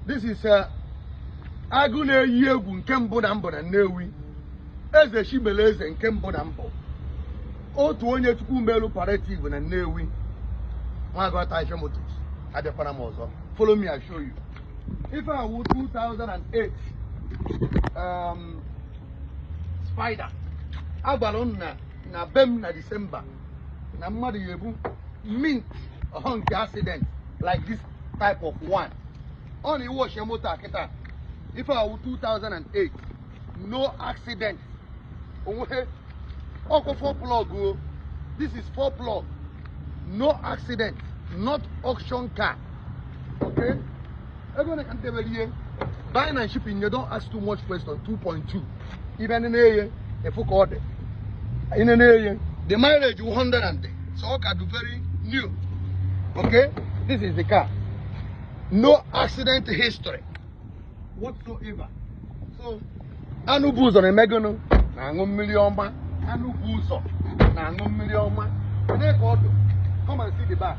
This is uh, agụ na-eyi egwu nke mbụ na mbụ na Nnewi eze chi mere eze nke mbụ na mbụ otu onye chukwu melu palliative na Nnewi Nwagọta Ife Motors abịakwara m ọzọ follow me I show you ife a wụ 2008 um, spider agwara m unu na be m na December na mmadụ ya-ebu mint ọhọ nke accident like this type of one ọ na iwe ochie moto a kịta ife a wụ 2008 no accident onweghị ọkụ four plug o this is four plug no accident not auction car okay ego one ka m debere ya buying and shipping you don't ask too much question 2.2 ị bịa nenee ya ị fụ ka ọ dị i nenee ya the mileage 100 and so ọ ka dị very new okay this is the car no accident history whatsoever so anụ bu ụzọ na-eme gụnụ na-aṅụ mmiri ọma anụ bu ụzọ na-aṅụ mmiri ọma ị nee ka ọ dụ come and see the back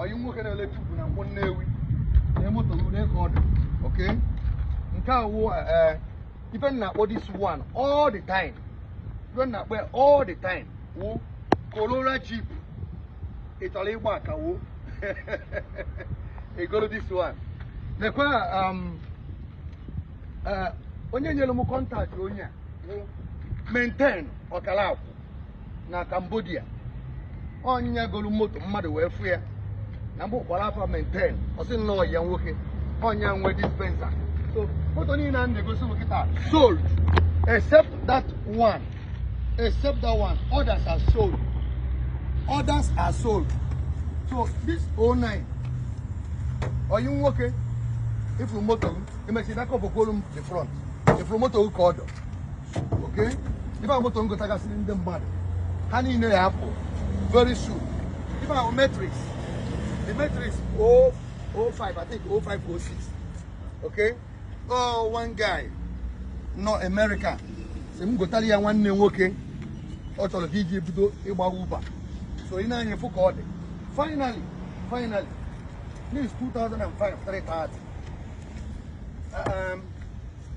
ọyị nwoke na-ele tube na Nkwọ Nnewi na moto rude ka ọ dị okay nke a wụ ee eh, ife m na-akpọ this one all the time ife m na-akpọ ya all the time wụ Corolla Jeep ị chọrọ ịgba aka wụ i goro this one lekwa um, eh, onye nyere m contact onye a wụ Maintain ọkala akụ na Cambodia ọ nya golu moto mmadụ wee fụ ya na mgbe ụkwara afa Maintain ọ sị nnọọ ya nwoke ọ nya nwe dispenser so moto niine a m na-egosi unu kịta sold except that one except that one others are sold others are sold so this 09 ọyị nwoke ị fụrụ moto ahụ emechiri aka ọbọkwolu m the front ị fụrụ moto ahụ ka ọ dụ okay ife a wụ moto m gotagasịrị ndị mmadụ ha niile ya-apụ very soon ife a wụ matrix the matrix 05 i think 0506 okay oh one guy nọ America sị m gotara ya nwanne nwoke ọ chọrọ ka iji bido ịgba Uber so ị nee anya ị fụ ka ọ dị finally finally this 2005 330 um,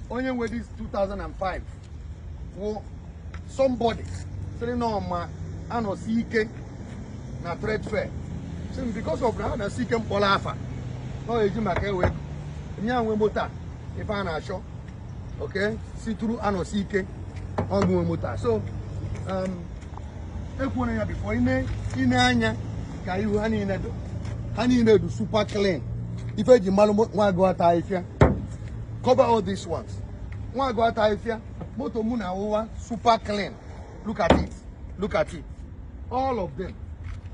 onye nwe this 2005 wụ somebody sịrị na ọ ma anọsike na trade fair so because of anọsike m kpọrọ afa na ọ eji maka ewe onye nwe moto a ife a na-achọ okay is true anọsike ọ gụ nwe moto a so um, ekwuona ya before ị nee anya ka ị hụ ha niile dụ ha niile dụ super clean ife eji malụ nwa agụ ata ahịfịa cover all these ones nwa agụ ata ahịfịa moto mụ na-awụwa super clean look at it look at it all of them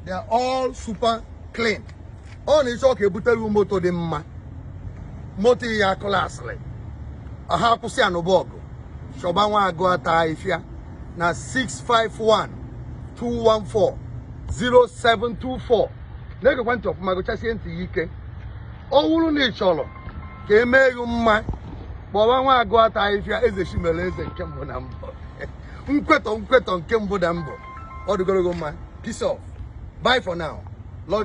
they are all super clean ọ na ị chọ ka ebutere moto dị mma moto ya clearsịrị ha akwụsị ya na be gụ chọba nwa agụ ata ahịfịa na 651 214 0724 na-egekwa ntị ọfụma gụchasie ntị ya ike ọ wụrụ na ị chọrọ ka e mee gị mma kpọba nwa agụ ata ahịfịa eze chimere eze nke mbụ na mbụ nkwetọ nkwetọ nke mbụ na mbụ ọ dịgoro gị mma peace off bye for now